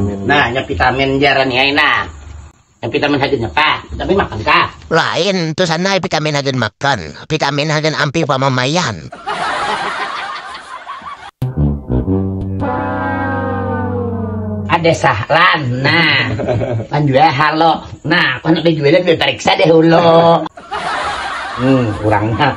Nah, nya vitamin jaran ni ai nah. Nya vitamin hagan apa? Vitamin makan kah? Lain, tu sana vitamin hagan makan. Vitamin hagan ampih pamamaian. Ada sahlan, nah. Panjual halo. Nah, aku nak bejualan bepariksa deh ulo. Hmm, urangnya.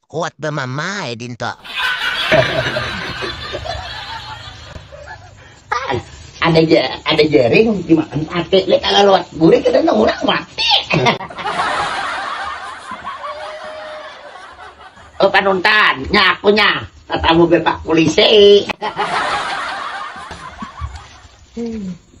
Kuat bamamai dinto. ada ja, ada jaring dimakan sate le kalau lewat buri kita orang mati oh panuntan nyaku nya tatamu bepak polisi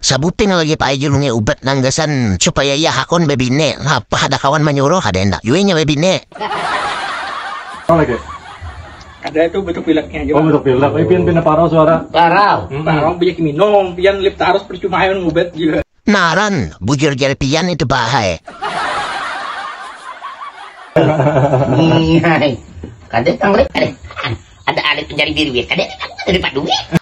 Sabuting lagi pa'ai julungi ubat nang gasan supaya iya hakun babini, napa kada kawan manyuruh, kada handak jua inya babini. Naran, bujur jar pian itu pa'ai.